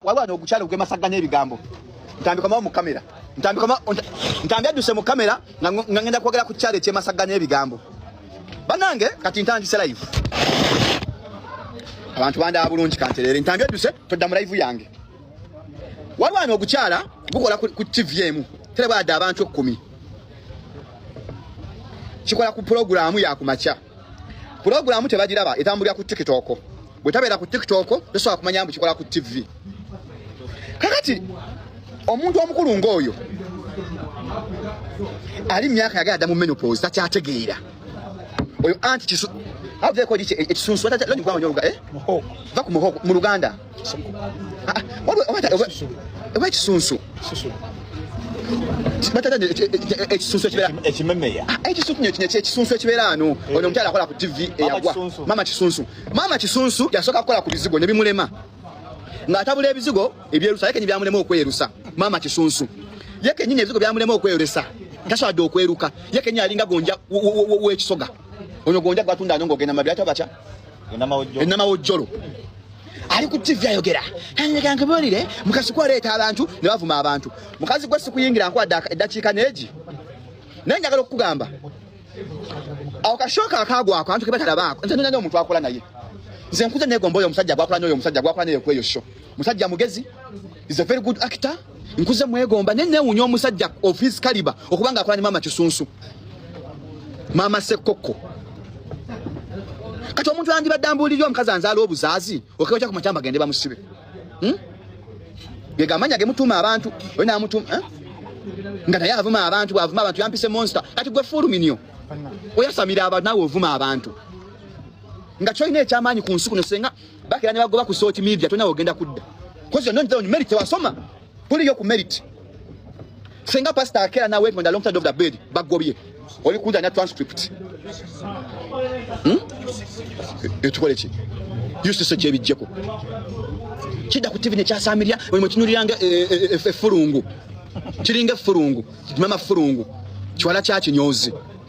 Waliwo wano ogukyalo gwemasagganya ebigambo ntambika mawo mu kamera ntambika ma ntambi adduse mu kamera nga ngenda kwogera ku kyalo ekyemasagganya ebigambo banange kati ntandise live abantu bandaba bulungi kantereere ntambi adduse todda mu live yange waliwo wano ogukyala gukola ku tv emu terebwadde abantu ekkumi kikola ku pulogulaamu yakumakya pulogulaamu tebagiraba etambulira ku tiktok bwe tabeera ku tiktok tosobola kumanya mbu kikola ku ttivi kakati omuntu omukulu ng'oyo ali mumyaka yagala adda mu menopose takyategeera oyo anti kisu avueko ekisunsu va ku muhogo mu luganda Ah, oba ekisunsu ekisunsu ekibeera ano eh. ono omukyala akola ku tv eyagwa mama kisunsu mama kisunsu yasooka kukola ku bizigo ne bimulema ng'atabula ebizigo ebyerusa ye kenyi byamulema okwerusa mama kisunsu ye kenyini ebizigo byamulema okwerusa tasobadde okweruka ye kenyi alinga gonja w'ekisoga ono gonja gwatunda ano ng'ogenda mabi ata batya enamawojjolo ali ku ttivi ayogera anyega nkibuulire mukazi ku aleeta abantu ne bavuma abantu mukazi gwe sikuyingira nkwadde eddakiika neegi naye njagala okukugamba awo kashooka akaagwako antu kebatalabaako nze nonyanya omuntu akola naye nze nkuze negomba oyo omusajja gwakola nyo oyo omusajja gwakola naye kweyo sho musajja mugezi is a very good actor nkuze mwegomba ne newunya omusajja of his caliber okubanga akola ne mama kisunsu mama sekoko kati omuntu yandibadde ambuulirira omukazi anzaala obuzaazi okewekya ku makyamba gende bamusibe hmm? gegamanya gemutuuma abantu oyo namutuuma eh? nga naye avuma abantu bwavuma abantu yampise monster kati gwe fuluminio oyasamira abantu nawe ovuma abantu nga kyolina ekyamaanyi ku nsi kuno senga bakira ne bagoba ku sooki media tona ogenda kudda kozi yonna nzira merit tewasoma kuliyo ku merit senga pastor akera na wait on the long side of the bed bagobye oli kuja na transcript hmm? etukole ki yususo gyebijjeko kidda ku tivi nekyasamirira buli mwekinuriranga eh, eh, eh, effulungu kiringa effulungu mama fulungu kiwala kyakinyozi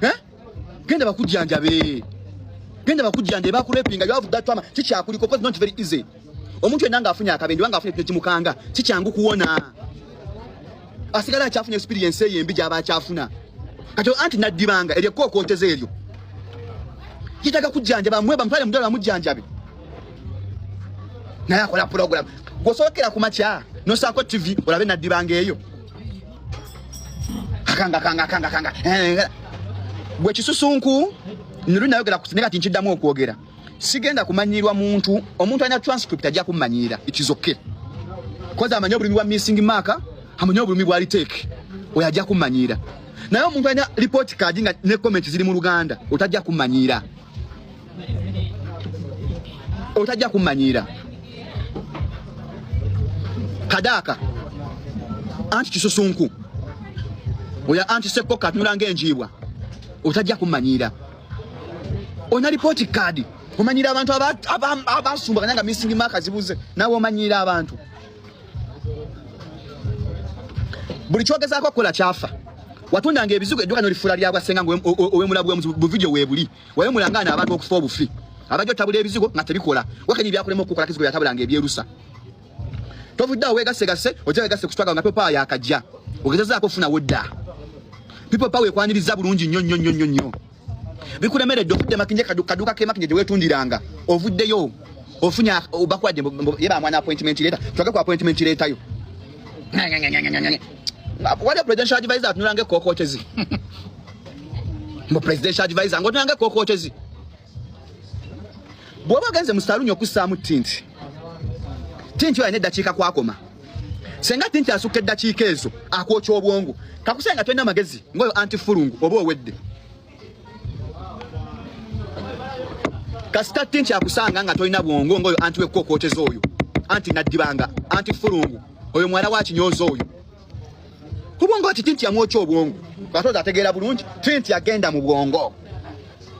eh? genda bakujjanjabe genda bakujjanjabe bakurepinga you have that trauma kikyakuliko cause not very easy omuntu yenna ng'afunye akabenje oba ng'afunye kino kimukanga si kyangu kuwona asigala akyafuna experience eyo embi gy'aba akyafuna kati anti naddibanga eryo ekkookootezo eryo kitaga kujjanjaba mwe bamutwale mudala bamujjanjabe naye akola pulogulamu gwosookera ku makya nosaako tv olabe naddibanga eyo akanga akanga akanga akanga eh, gwe kisusunku nuli nayogera ne kati nkiddamu okwogera sigenda kumanyiirwa muntu omuntu alina transcript ajja kummanyiira ikizoke koza amanyi obulumi bwa missing mark amanyi obulumi bwa litake oyo ajja kummanyiira naye omuntu alina report kaadi nga ne comment ziri mu luganda otajja kummanyiira otajja kumanyiira kadaaka anti kisusunku oya anti sekko katunula ngaenjiibwa otajja kumanyiira olina lipooti kaadi omanyiira abantu abasumbaganya nga missing mark zibuze nawe omanyiira abantu buli kyogezaako okukola kyafa watundanga ebizigo edduka nolifula lyabwasenga nga owemulabu wemuzibu buvidiyo webuli wayo mulangana abantu okufa obufi abajo tabula ebizigo nga tebikola wakati byakulema okukola kizigo yatabulanga ebyerusa tovudde awo wegasse gasse ojja wegasse ku struggle nga people power yakajja ogezezaako ofuna wodda people power ekwaniriza bulungi nnyo nnyo nnyo nnyo nnyo bikulemeredde ofudde makinje kaduka kemakinje gye weetundiranga ovuddeyo ofunye bakuwadde ye bamwana appointment leeta twage ku appointment leetayo waliwo presidential advisor atunulanga ekkokootezi mbu presidential advisor ngotunanga kokotezi bwoba ogenze mu saluuni okussaamu tinti tinti olina eddakiika kwakoma senga tinti asukka eddakiika ezo akwokya obwongo kakuse nga tolina magezi ngaoyo anti fulungu oba owedde kasita tinti akusanga nga tolina bwongo ngaoyo anti wekkokooteza oyo anti naddibanga anti fulungu oyo mwala wakinyooza oyo kubwongo kiti nti yamwokya obwongo katozi ategeera bulungi tinti agenda mu bwongo